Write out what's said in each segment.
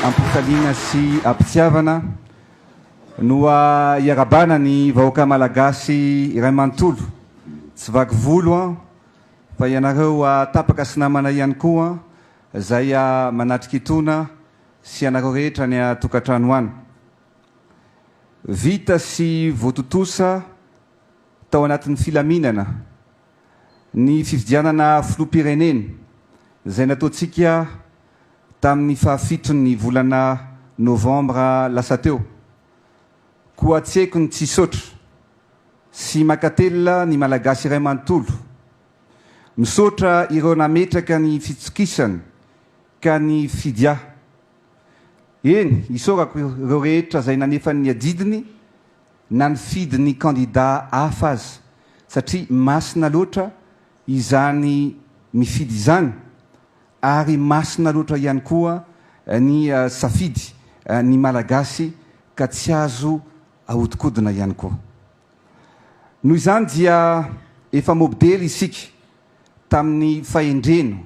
Ampifaliana sy ampitiavana no iarabana ny vahoaka Malagasy iray manontolo. Tsy vaky volo an! Fa ianareo tapaka sy namana ihany koa izay manatrika itony. sy ianareo rehetra any an-tokantrano any. Vita sy voatontosa tao anatin'ny filaminana ny fifidianana filoham-pirenena izay nataontsika tamin'ny fahafiton'ny volana novambra lasa teo. Koa tsieiko ny tsy hisaotra sy mankatelina ny Malagasy iray manontolo. Misaotra ireo nametraka ny fitokisany Ka ny fidya. Eny, isaorako ireo rehetra izay nanefa ny adidiny na nifidy ny kandida hafa aza, satria masina loatra izany mifidy izany, ary masina loatra ihany koa ny safidy ny Malagasy ka tsy azo ahodikodina ihany koa. Noho izany dia efa mobdely isika tamin'ny fahendrena.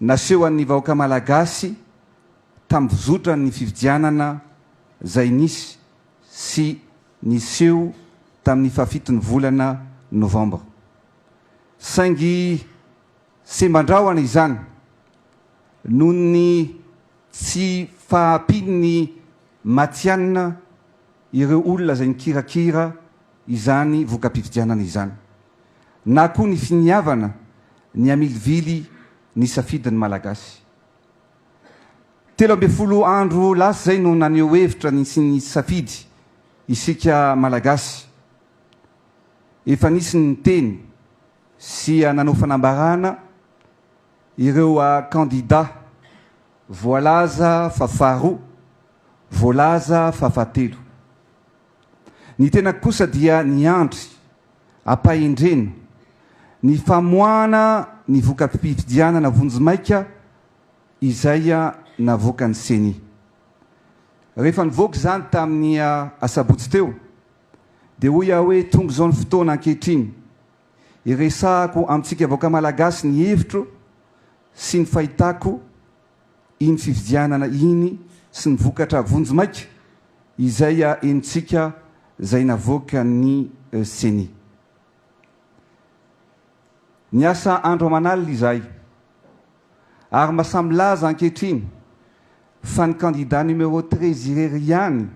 Nasehon'ny vahoaka Malagasy tambizotra ny fifidianana izay nisy sy niseho tamin'ny fahafiton'ny volana Novambra. Saingy semban-drahona izany noho ny tsy fahampian'ny matihanina ireo olona izay nikirakira izany voka-pifidianana izany na koa ny finiavana Ny hamilivily ny safidin'ny Malagasy. Telo ambin'ny folo andro lasa izay no naneho hevitra ny sy ny safidy isika Malagasy. Efa nisy ny niteny sy nanao fanambarana ireo kandida voalaza fa faharoa, voalaza fa fahatelo. Ny tenako kosa dia niandry, ampahendrena, ny famoahana ny voka-pifidianana vonjimaika izay navoakan'ny Ceni. Rehefa nivoaka izany tamin'ny asabotsy teo dia hoy aho hoe tonga izao ny fotoana ankehitriny hiresahako amintsika vahoaka malagasy ny hevitro sy ny fahitako iny fifidianana iny sy ny vokatra vonjimaika izay henontsika izay navoakan'ny Ceni. Niasa andro aman'alina izahay ary mba samy milaza ankehitriny fa ny kandida numéro treize irery ihany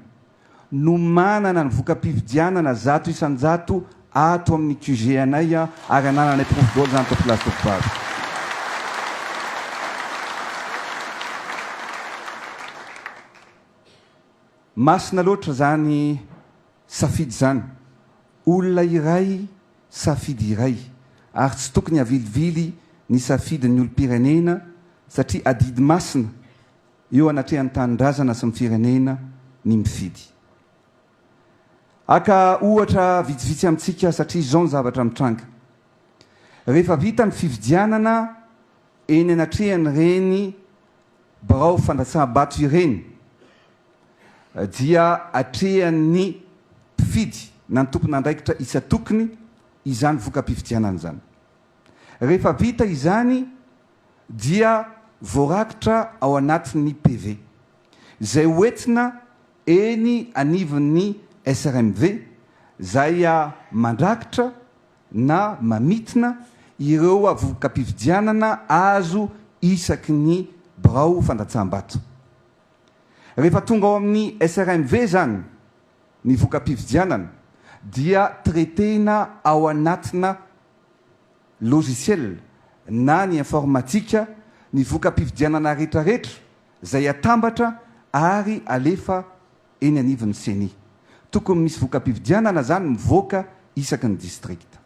no manana ny voka-pifidianana zato isan-jato ato amin'ny QG anay ary anananay porofo daholo izany tompolah sy tompovavy. Masina loatra izany safidy izany. Olona iray, safidy iray ary tsy tokony havilivily ny safidin'ny olom-pirenena satria adidy masina. eo anatrehan'ny tanindrazana sy ny firenena ny mifidy. Haka ohatra vitsivitsy amintsika satria izao ny zavatra mitranga. Rehefa vita ny fifidianana eny anatrehan'ireny birao fandatsaham-bato ireny dia atrehan'ny mpifidy na ny tompon'andraikitra isan-tokony izany voka-pifidianana izany. Rehefa vita izany, dia voarakitra ao anatin'ny PV, izay hoentina eny anivon'ny SRMV, izay mandrakitra na mamintina ireo vokam-pifidianana azo isaky ny birao fandatsaham-bato. Rehefa tonga ao amin'ny SRMV izany ny vokam-pifidianana dia traiter-na ao anatina. logiciel na ny informatika ny voka-pifidianana retraretra izay atambatra ary alefa eny anivon'ny ceni. Tokony misy voka-pifidianana izany mivoaka isaky ny distrikta.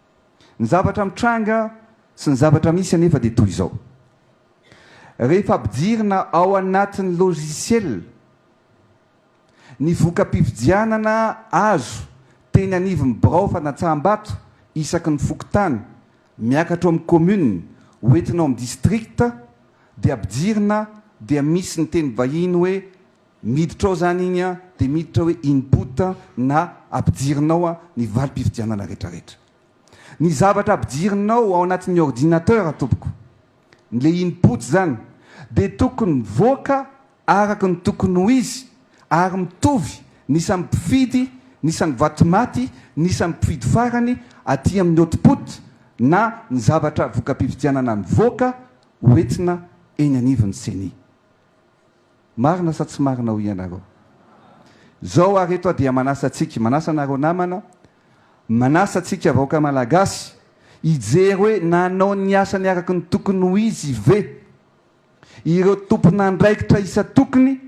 Ny zavatra mitranga sy ny zavatra misy anefa dia toy izao. Rehefa ampidirina ao anatin'ny logiciel. Ny voka-pifidianana azo teny anivon'ny birao fanatsaham-bato isaky ny fokontany miakatra ao amin'ny commune ho entina ao amin'ny district dia ampijirina dia misy ny teny vahiny hoe miditra ao zany iny dia miditra hoe input na ampijirinao ny valim-pifidianana retraretra. Ny zavatra ampijirinao ao anatin'ny ordinateur tompoko, le input zany dia tokony mivoaka araka ny tokony ho izy ary mitovy ny isan'ny mpifidy, ny isan'ny vato maty, ny isan'ny mpifidy farany aty amin'ny output na ny zavatra voka-pifidianana mivoaka ho entina eny anivon'ny ceni. Marina sa tsy marina hoy ianareo? Izao ary eto aho dia manasa antsika, manasa anareo namana, manasa antsika vahoaka malagasy hijery hoe nanao ny asany araka ny tokony ho izy ve? Ireo tompon'andraikitra isan-tokony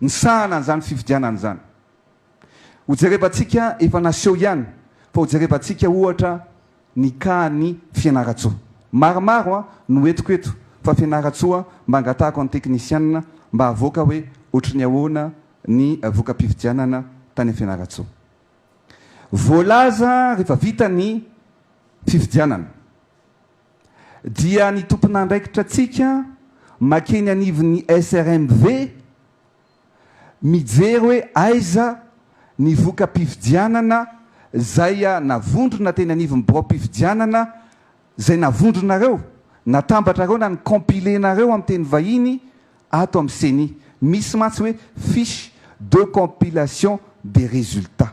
nisahana an'izany fifidianana izany. Hojerevantsika efa naseho ihany fa hojerevantsika ohatra ny kahan'i Fianarantsoa. Maromaro no entiko eto fa Fianarantsoa mba angatahako an'ny teknisianina mba havoaka hoe ohatry ny ahoana ny voka-pifidianana tany Fianarantsoa. Voalaza rehefa vita ny fifidianana. dia ny tompon'andraikitra antsika makeny anivon'ny SRMV mijery hoe aiza ny voka-pifidianana izay navondrona teny anivon'ny biraom-pifidianana, izay navondronareo, natambatrareo na ni-compiler-nareo amin'ny teny vahiny ato amin'ny ceni. Misy mantsy hoe fiche de compilation des résultats.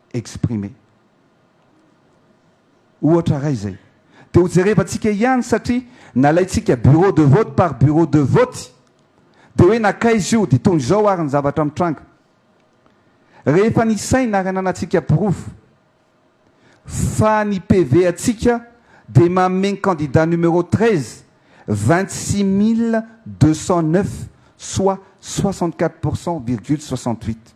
exprimer. Ohatra ray zay. Dia ho jerevantsika ihany satria nalaintsika bureau de vote par bureau de vote. Dia hoe nankaiza io, dia toy izao ary ny zavatra mitranga. Rehefa ny saina ary ananantsika porofo fa ny PV antsika dia manome ny candidat numéro treize, vingt-six mille deux cent neuf soit soixante-quatre pour cent virgule soixante-huit.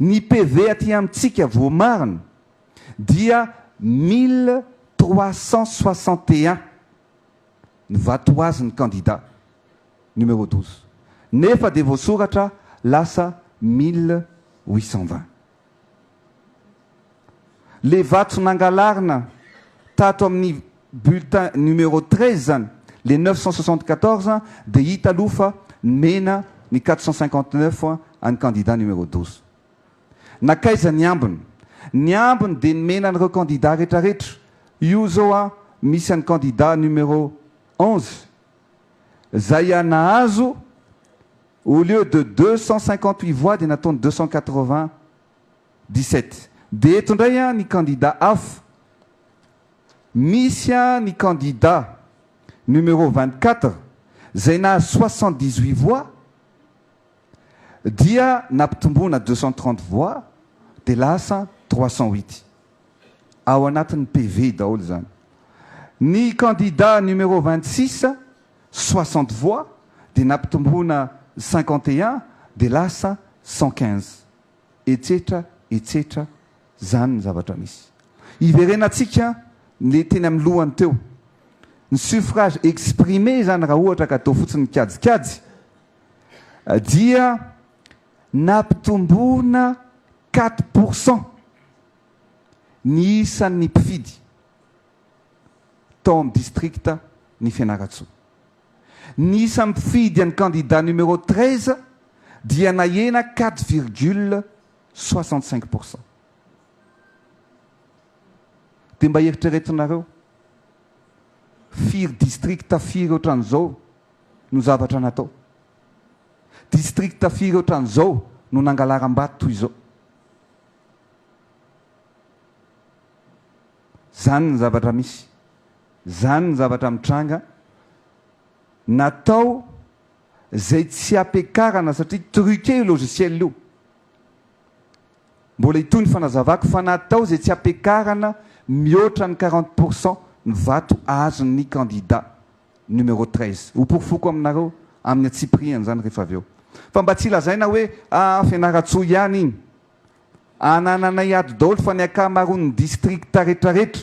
Ny PV aty amintsika voamarina dia mille trois cent soixante et un ny vatoazin'ny kandida numéro douze nefa dia voasoratra lasa mille huit cent vingt. Le vato nangalarina tato amin'ny bulletin numéro treize zany, le neuf cent soixante quatorze, dia hita aloha fa nomena ny quatre cent cinquante neuf an'ny candidat numéro douze. Nakaiza ny ambiny? Ny ambiny dia nomena an'ireo candidat retraretra. Io izao an, misy an'ny candidat numéro onze, izay an nahazo au lieu de deux cent cinquante huit voix dia nataony deux cent quatre vingt. Dix-sept. Dia eto indray ny kandida afo, misy ny kandida numéro vingt-quatre izay nahazo soixante-dix-huit voix dia nampitomboina deux cent trente voix dia lasa trois cent huit. Ao anatin'ny PV daholo izany. Ny kandida numéro vingt-six, soixante voix dia nampitomboina cinquante et un dia lasa cent quinze. etsetra etsetra zany ny zavatra misy. Hiverenantsika le teny amin'ny lohany teo. Ny suffrage exprimé zany raha ohatra ka atao fotsiny kajikajy dia nampitomboina quatre pour cent ny isan'ny mpifidy tao amin'ny district ny Fianarantsoa. Ny isa mifidy an'i kandida numéro treize dia nahena quatre virgule soixante cinq pour cent. Dia mba eritreretinareo, firy districts firy ohatran'izao no zavatra natao? Districts firy ohatran'izao no nangalaram-bato toy izao? Izany ny zavatra misy. Zany ny zavatra mitranga, natao zay tsy apekarana satria truqué io logiciel io, mbola hitohy ny fanazavako fa natao zay tsy apekarana mihoatra ny quarante pour cent ny vato azon'ny candidat numéro treize, hoporofoko aminareo amin'ny antsipirihany zany rehefa avy eo fa mba tsy lazaina hoe aa Fianarantsoa ihany iny, anananay ato daholo fa ny akamaroan'ny district retraretra.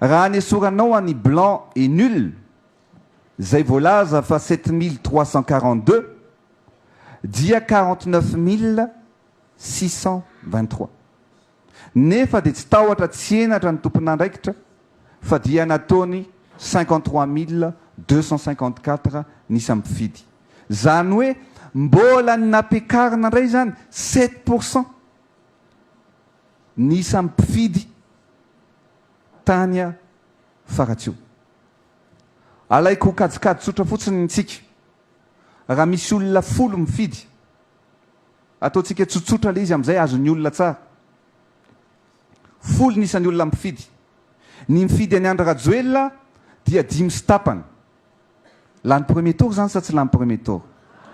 Raha anesoranao an'i blanc et nul izay voalaza fa sept mille trois cent quarante deux dia quarante neuf mille six cent vingt trois. Nefa dia tsy tahotra tsy henatra ny tompon'andraikitra fa dia nataony cinquante trois mille deux cent cinquante quatre ny isa-mpifidy. Izany hoe mbola ny nampiakarina indray izany sept pour cent. ny isan'ny mpifidy tany Faratsiho. Alaiko ho kajikajy tsotra fotsiny ny antsika. Raha misy olona folo mifidy, ataontsika tsotsotra ilay izy amin'izay azon'ny olona tsara. Folo ny isan'ny olona mpifidy. Ny mifidy an'i Andry Rajoelina dia dimy sy tapany. Lany premier tour izany sa tsy lany premier tour?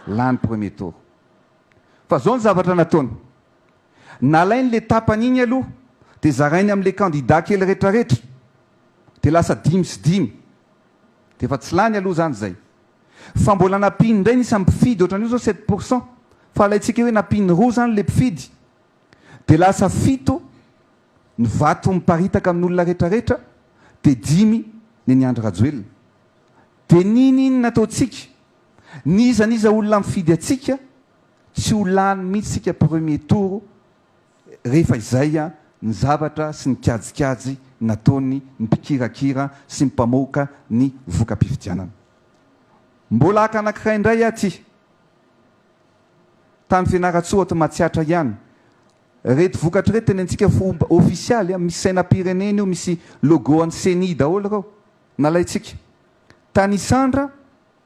Lany premier tour. Fa izao ny zavatra nataony. Nalainy le tapany iny aloha de zarainy amle kandida kely retraretra de lasa dimy sy dimy de efa tsy lany aloha zany zay fa mbola nampihiny ndray ny isan'ny mpifidy otran'io zao sept pour cent fa alaintsika hoe nampihiny roa zany le mpifidy de lasa fito ny vato miparitaka amin'olona retraretra de dimy nen'i Andry Rajoelina de n'inon'inona ataontsika n'iza n'iza olona mifidy antsika Tsy ho lany mihitsy tsika premier tour rehefa izay ny zavatra sy ny kajikajy nataony ny mpikirakira sy ny mpamoaka ny voka-pifidianana. Mbola haka anankiray indray aty tany Fianarantsoa ato Matsiatra ihany. Reto vokatra reto tenentsika ho ofisialy, misy sainam-pirenena io, misy logo an'ny ceni daholo ireo nalaintsika. Tany Isandra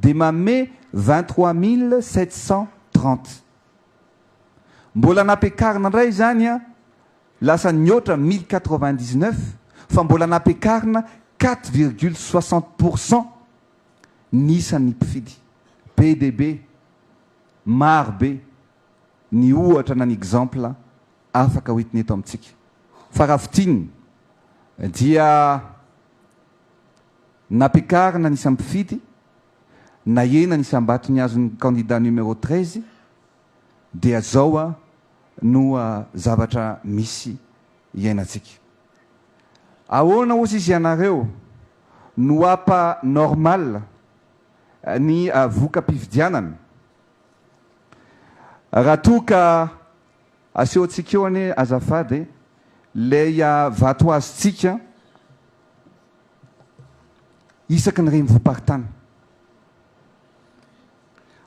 dia manome vingt trois mille sept cent trente. Mbola nampiakarina indray izany an, lasa nihoatra mille quatre vingt dix neuf fa mbola nampiakarina quatre virgule soixante pour cent ny isan'ny mpifidy. Be dia be, maro be ny ohatra na ny exemple afaka ho entina eto amintsika. Fa raha fintinina dia. Nampiakarina ny isam-pifidy, nahena ny isam-bato ny azon'ny kandida numéro treize, dia zao no zavatra misy iainantsika. Ahoana ozy izy ianareo no hapa normal ny voka-pifidianana raha toa ka Asehontsika eo anie azafady e, ilay vato azontsika isaky ny renivohi-paritany.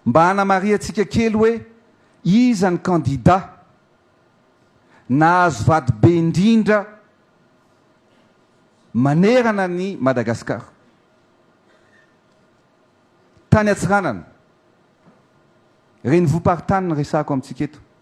Mba hanamarihantsika kely hoe iza ny kandida nahazo vato be indrindra manerana an'i Madagasikara. Tany Antsiranana, renivohi-paritany no resahako amintsika eto.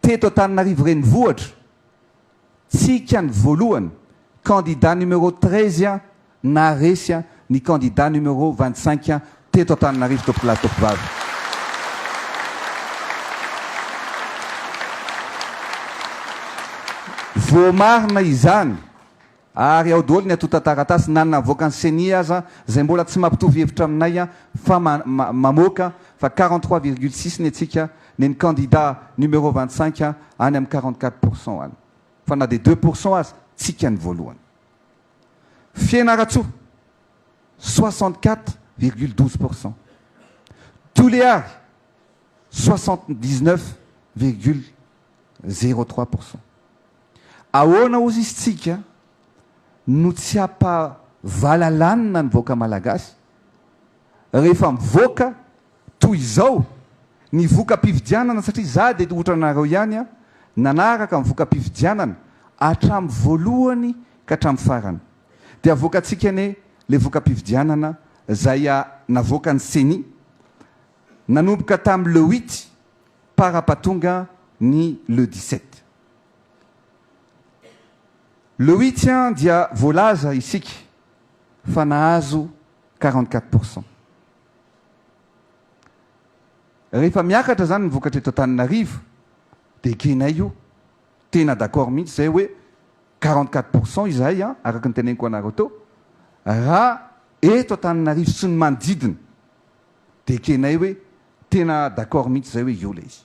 Teto Antananarivo Renivohitra, tsika ny voalohany, candidat numéro treize naharesy ny candidat numéro vingt cinq teto Antananarivo tompokolahy tompovavy. Voamarina izany Ary ao doly ny antontan-taratasy na ny navoakan'ny ceni aza izay mbola tsy mampitovy hevitra aminay fa mamoaka fa quarante trois virgule six ny antsika neny kandida numéro vingt cinq any amin'ny quarante quatre pour cent any fa na dia deux pour cent aza tsika ny voalohany Fianaratsoa soixante quatre virgule douze pour cent Toliary soixante dix neuf virgule zero trois pour cent Ahoana ozy izy tsika no tsy hapa valalanina ny vahoaka malagasy rehefa mivoaka toy izao ny voka-pifidianana satria za de otranareo ihany a nanaraka ny voka-pifidianana atram voalohany ka atram farany de avoakatsika anie le voka-pifidianana zay a navoakan'ny ceni nanomboka tam le huit para patonga ny le dix sept. Le huitian dia voalaza isika fa nahazo quarante quatre pour cent. Rehefa miakatra izany ny vokatra eto Antananarivo dia ekenay io. Tena d'accord mihitsy izay hoe quarante quatre pour cent izahay an, araka ny teneniko anareo teo, raha eto Antananarivo sy ny manodidina dia ekenay hoe tena d'accord mihitsy izay hoe io ilay izy.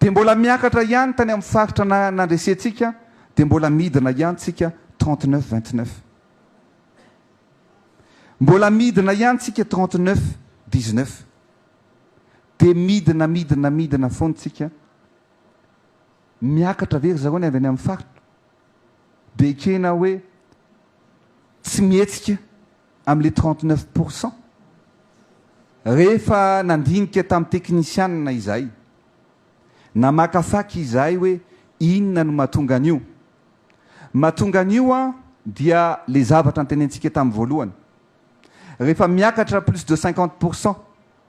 Dia mbola miakatra ihany tany amin'ny faritra na nandresentsika dia mbola midina ihany tsika trente neuf vingt neuf. Mbola midina ihany tsika trente neuf dix neuf. Dia midina midina midina foana tsika. Miakatra ve ry zareo ny avy any amin'ny faritra? Dia ekena hoe tsy mihetsika. amin'ny le trente neuf pour cent. Rehefa nandinika tamin'ny teknisianina izahay, namakafaka izahay hoe inona no mahatonga an'io. Mahatonga an'io an dia le zavatra ntenentsika tamin'ny voalohany. Rehefa miakatra plus de cinquante pour cent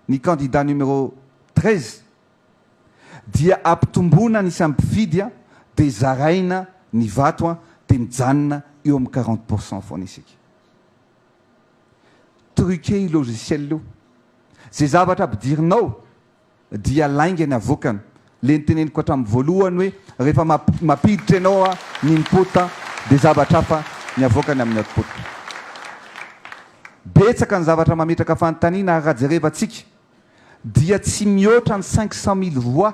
ny candidat numéro treize dia ampitomboina ny isan'ny mpifidy an dia zaraina ny vato an dia mijanona eo amin'ny quarante pour cent foana isika. Truqué io logiciel io. Ze zavatra ampidirinao dia lainga ny avoakany. Le niteneniko hatramin'ny voalohany hoe rehefa mampiditra ianao ny input dia zavatra hafa ny avoakany amin'ny output. Betsaka ny zavatra mametraka fanontaniana ary raha jerevantsika dia tsy mihoatra ny cinq cent mille voix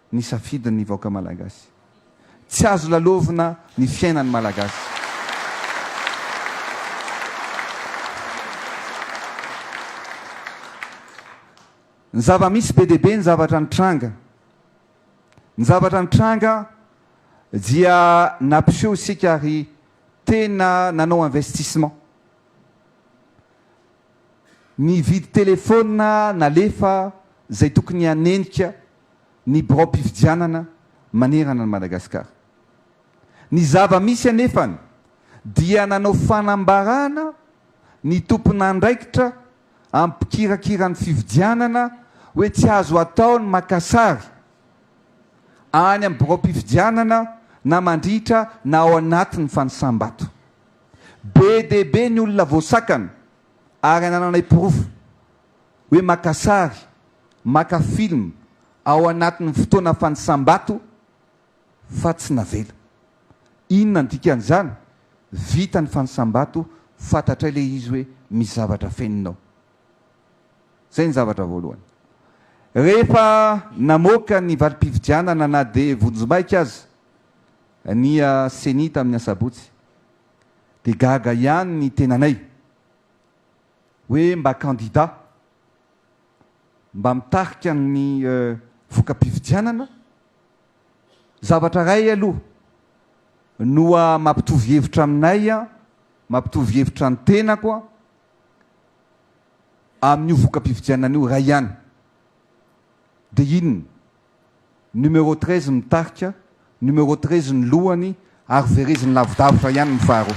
ny safidin ny vahoaka malagasy. Tsy azo lalovina ny fiainan ny malagasy. Ny zava misy be dia be ny zavatra nitranga. Ny zavatra nitranga dia nampiseho isika ary tena nanao investissement. Nividy telephone nalefa izay tokony hanenika ny biraom-pifidianana manerana an'i Madagasikara. Ny zava-misy anefa dia nanao fanambarana ny tompon'andraikitra ampikirakira ny fifidianana hoe tsy azo atao ny maka sary any amin'ny biraom-pifidianana na mandritra na ao anatin'ny fanisam-bato. Be dia be ny olona voasakana ary anananay porofo hoe maka sary, maka film ao anatin'ny fotoana fanisam-bato fa tsy navela. Inona ny dikan'izany? Vita ny fanisam-bato, fantatray ilay izy hoe misy zavatra fenina ao. Izay ny zavatra voalohany. Rehefa namoaka ny valim-pifidianana na dia vonjimaika aza ny Ceni tamin'ny asabotsy dia gaga ihany ny tenanay hoe mba kandida mba mitarika ny voka-pifidianana, zavatra iray aloha no mampitovy hevitra aminay, mampitovy hevitra ny tenako amin'io voka-pifidianana io iray ihany. Dia inona? Numéro treize ny tarika, numéro treize ny lohany ary vereziny lavidavitra ihany ny faharoa.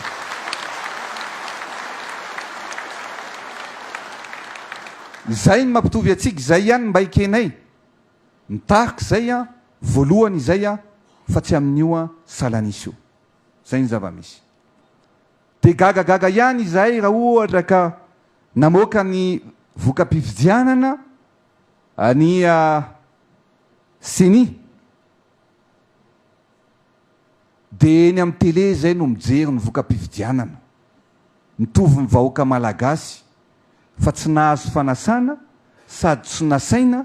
Izay no mampitovy antsika, izay ihany mba ekenay. Ny tarika izay an, voalohany izay an, fa tsy amin'io an, salan'isa io. Izay ny zava-misy. Dia gagagaga ihany izahay raha ohatra ka namoaka ny voka-pifidianana Ania ceni dia eny amin'ny tele izay no mijery ny voka-pifidianana. Mitovy ny vahoaka malagasy fa tsy nahazo fanasana sady tsy nasaina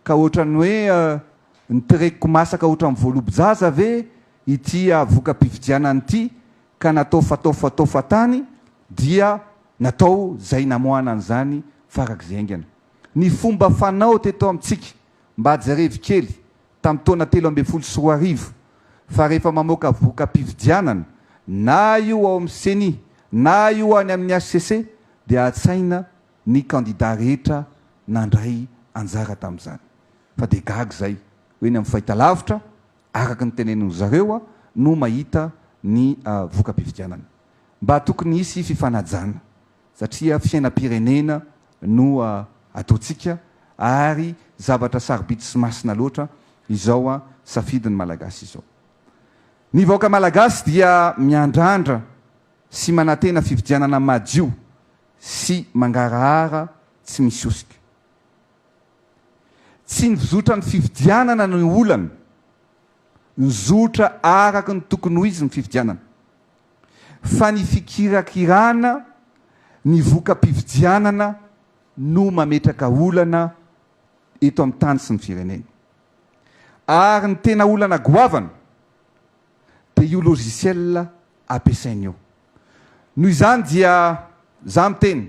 ka ohatran'ny hoe ny terekiko masaka ohatran'ny voalobo-jaza ve ity voka-pifidianana ity ka natao fatao fatao fatany dia natao izay namoahana an'izany farak'izay haingana. ny fomba fanao teto amintsika mba jerevy kely tamin'ny taona telo ambin'ny folo sy roa arivo fa rehefa mamoaka voka-pifidianana na io ao amin'ny ceni na io any amin'ny HCC dia atsaina ny kandida rehetra nandray anjara tamin'izany fa dia gaga izay hoe ny amin'ny fahitalavitra araka ny tenenin-dry zareo no mahita ny voka-pifidianana mba tokony hisy fifanajana satria fiainam-pirenena no ataontsika ary zavatra sarobidy sy masina loatra izao safidy ny Malagasy izao. Ny vahoaka Malagasy dia miandrandra sy manantena fifidianana madio sy mangarahara tsy misy hosoka. Tsy ny fizotra ny fifidianana no olana, nizotra araka ny tokony ho izy ny fifidianana fa ny fikirakirana ny voka-pifidianana no mametraka olana eto amin'ny tany sy ny firenena. Ary ny tena olana goavana dia io logiciel ampiasainy io. Noho izany dia za miteny.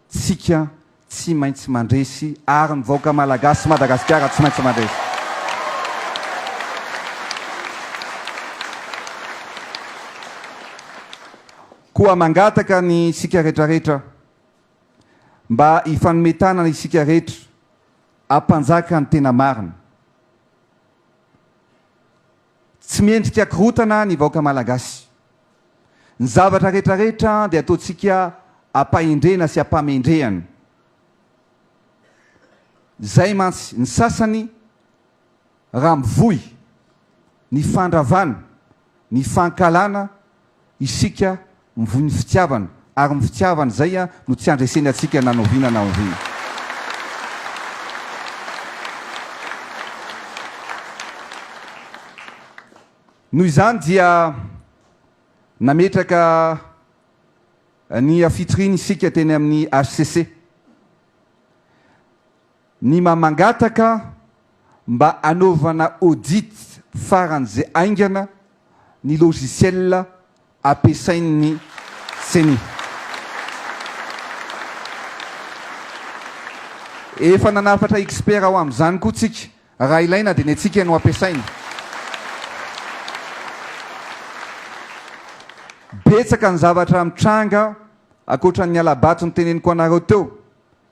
Tsika tsy maintsy mandresy ary ny vahoaka malagasy sy Madagasikara tsy maintsy mandresy. Koa mangataka ny isika retraretra mba hifanome tanana isika retra hampanjaka ny tena marina. Tsy mendrika korotana ny vahoaka malagasy. Ny zavatra retraretra dia ataontsika ampahendrena sy ampamendrehana. Izay mantsy ny sasany raha mivoy ny fandravana, ny fankahalana Isika mivoy ny fitiavana ary ny fitiavana izay no tsy andreseny antsika na noviana na oviana. Noho izany dia nametraka ny fitoriana isika teny amin'ny HCC. Ny maha mangataka mba anaovana audit farany ze aingana ny logiciel ampiasain'ny ceni. Efa nanafatra expert ho amin'izany koa tsika, raha ilaina dia ny antsika no ampiasaina. Betsaka ny zavatra mitranga ankoatran'ny hala-bato noteneniko anareo teo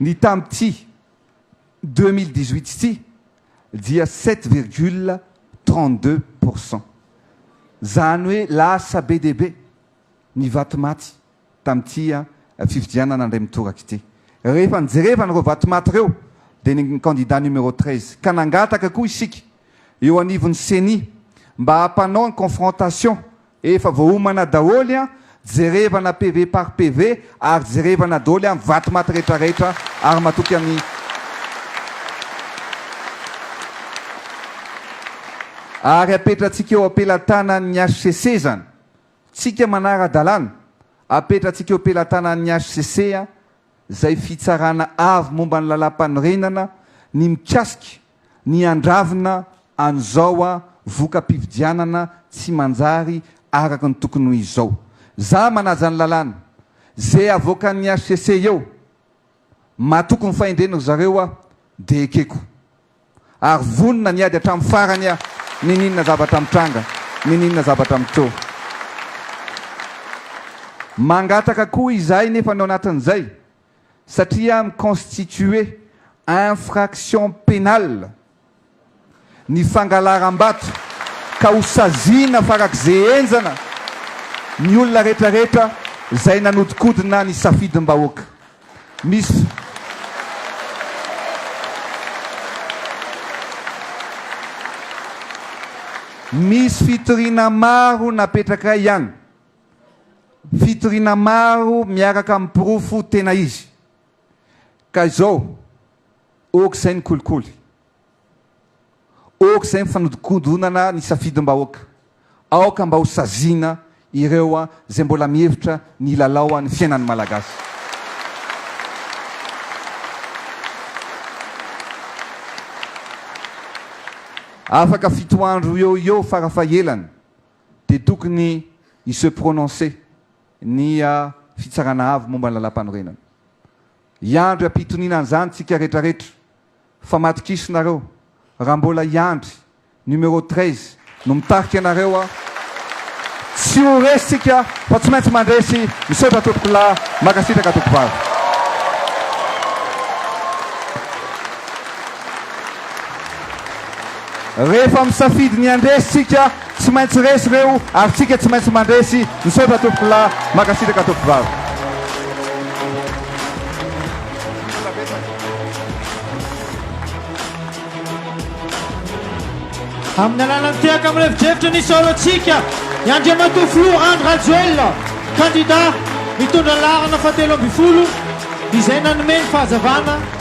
Ny tamin'ity deux mille dix-huit ity dia sept virgule trente-deux pour cent. Izany hoe lasa be dia be ny vato maty tamin'ity fifidianana indray mitoraka ity. Rehefa nijereva an'ireo vato maty ireo dia ny kandida numéro treize. Ka nangataka koa isika eo anivon'ny ceni mba hampanao ny confrontation Efa voaomana daholy an, jerevana PV par PV ary jerevana doly an vato maty rehetra rehetra ary matoky an ary apetratsika eo ampelatanan ny HCC zan tsika manara dalana apetratsika eo ampelatanan ny HCC an zay fitsarana avy momba ny lalam panorenana ny mikasika ny handravona an'izao a voka-pifidianana tsy manjary araka ny tokony ho izy izao. Za manaja ny lalàna, ze avoakan'ny HCC eo, matoky ny fahendreny ry zareo aho de ekeko. Ary vonona ny hiady hatramin'ny farany aho n'in'inona zavatra mitranga, n'in'inona zavatra mitrôha. Mangataka koa izahay nefa ny ao anatin'izay, satria mi-constituer infraction pénale ny fangalaram-bato ka ho saziana farak'izay henjana ny olona retraretra izay nanodikodina ny safidim-bahoaka. Misy. Misy fitoriana maro napetraka ihany. Fitoriana maro miaraka amin'ny porofo tena izy. Ka izao, ok izay ny kolikoly, ok izay ny fanodikodinana ny safidim-bahoaka, aoka mba ho saziana ireo izay mbola mihevitra ny hilalao ny fiainan'ny Malagasy. Afaka fito andro eo ho eo farafahelany dia tokony hi se prononcer ny Fitsarana Avo momba ny Lalàmpanorenana. Hiandry am-pitoniana an'izany tsika retraretra fa matok'iso nareo raha mbola hiandry numéro treize no mitarika anareo tsy ho resy tsika fa tsy maintsy mandresy misaotra tompokolahy mankasitraka tompovavy. Rehefa misafidy ny handresy tsika Tsy maintsy resy reo ary tsika tsy maintsy mandresy misaotra tompoko lahy makasitraka tompoko vavy. Amin'ny alalan'ny tehaka mirefodrefotra ny saorantsika i Andriamatoa Filoha Andry Rajoelina, kandida mitondra ny laharana fahatelo ambin'ny folo, izay nanome ny fahazavana.